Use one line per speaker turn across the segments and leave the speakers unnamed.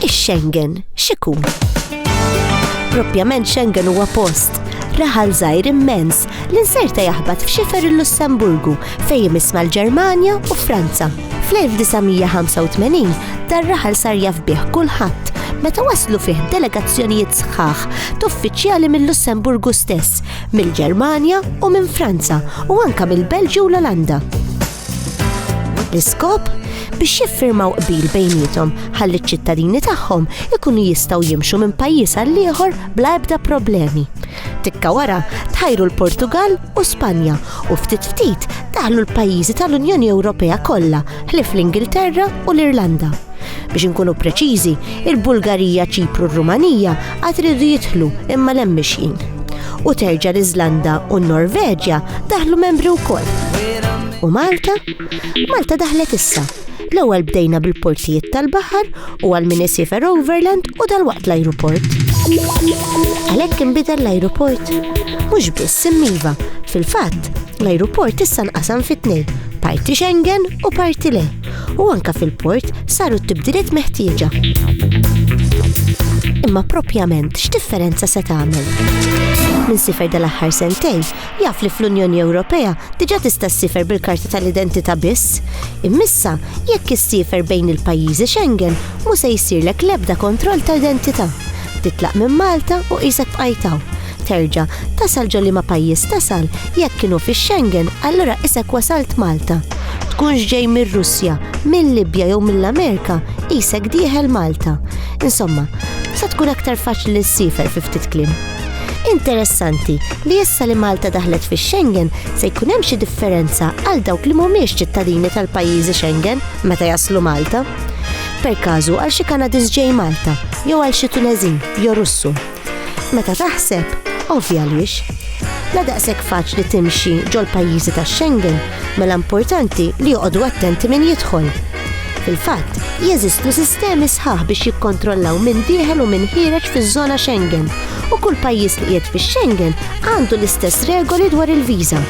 Ix-Schengen x'ikun? Propjament Schengen huwa post raħal żgħir immens li nserta jaħbat f'xifer il-Lussemburgu fejn jmiss mal-Ġermanja u Franza. Fl-1985 dar raħal sar jaf bih kulħadd meta waslu fih delegazzjonijiet sħaħ t'uffiċjali mill-Lussemburgu stess mill-Ġermanja u minn Franza u anka mill-Belġju u l-Olanda. L-iskop biex jiffirmaw qbil bejnietom ħalli ċ-ċittadini tagħhom ikunu jistgħu jimxu minn pajjiż għal ieħor bla ebda problemi. Tikka wara tħajru l-Portugal u Spanja u ftit ftit daħlu l-pajjiżi tal-Unjoni Ewropea kollha ħlif l-Ingilterra u l-Irlanda. Biex inkunu preċiżi, il-Bulgarija, Ċipru u Rumanija għad ridu jidħlu imma lem mixjin. U terġa' l-Iżlanda u n-Norveġja daħlu membri wkoll. U Malta? Malta daħlet issa. L-ewwel bdejna bil-portijiet tal-baħar u għal min isifer Overland u dal-waqt l-ajruport. Għalhekk inbidel l-ajruport. Mhux biss immiva, fil-fatt, l-ajruport issa nqasam fit-tnejn, parti Schengen u parti le. u anke fil-port saru t-tibdiliet meħtieġa. Imma proprjament x'differenza se tagħmel? Min sifer dal-aħħar sentejn jaf li fl-Unjoni Ewropea diġà tista' ssifer bil-karta tal-identità biss. Immissa, jekk issiefer bejn il-pajjiżi Schengen, mhu se jsirlek l-ebda kontroll ta' identità. Titlaq minn Malta u qisek bqajtaw. Terġa' tasal ġo liema pajjiż tasal, jekk kienu fix-Schengen allura qisek wasalt Malta. Tkunx ġej mir-Russja, mil-Libja jew mill-Amerika, qisek dieħel Malta. Insomma, sa tkun aktar faċli li ssiefer fi ftit kliem. Interessanti li issa li Malta daħlet fix-Schengen se jkun hemm xi differenza għal dawk li mhumiex ċittadini tal-pajjiżi Schengen meta jaslu Malta. Per każu għal xi Kanadiż ġej Malta jew għal xi Tuneżin jew Russu. Meta taħseb, ovvja għaliex. La daqshekk faċli timxi ġol-pajjiżi tax-Schengen mela importanti li joqogħdu attenti min jidħol. Fil-fatt, jeżistu sistemi sħaħ biex jikkontrollaw minn dieħel u minn ħireġ fiż-żona Schengen u kull pajjiż li qiegħed fix-Schengen għandu l-istess regoli dwar il-viża.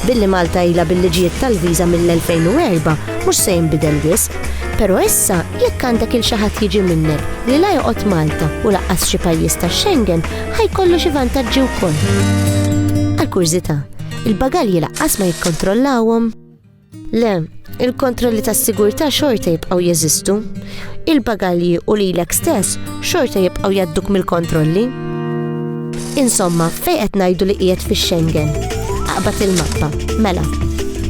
Billi Malta ilha bil-liġijiet tal-viża mill-2004 mhux se jinbidel wisq, però issa Jekk għandek il xi ħadd jiġi minnek li la joqgħod Malta u laqqas xi pajjiż tax-Schengen, ħa jkollu xi vantaġġi wkoll. Għal kurżità, il-bagalji laqqas ma jikkontrollawhom? Le, il-kontrolli tas-sigurtà xorta jibqgħu jeżistu. Il-bagalji u lilek stess xorta jibqgħu jadduk mill-kontrolli. Insomma, fejn qed ngħidu li qiegħed fix-Schengen? Aqbad il-mappa. Mela,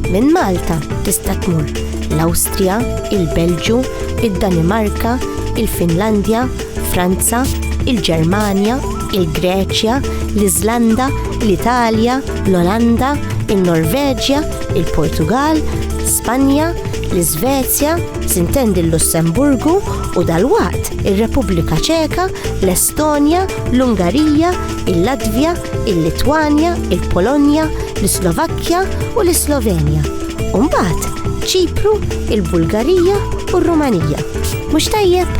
minn Malta tista' tmur l-Awstrija, il-Belġju, id-Danimarka, il-Finlandja, Franza, il-Ġermanja, il-Greċja, l-Iżlanda, l-Italja, l-Olanda, in-Norveġja, il-Portugall, Spanja, l-Iżvezja, sintendi l-Lussemburgu u dalwaqt ir-Repubblika Ċeka, l-Estonja, l-Estonja, l-Ungarija, il-Latvja, il-Litwanja, il-Polonja, l-Slovakkja u l-Slovenja. U mbagħad ċipru, il-Bulgarija u r-Rumanija. Mhux tajjeb?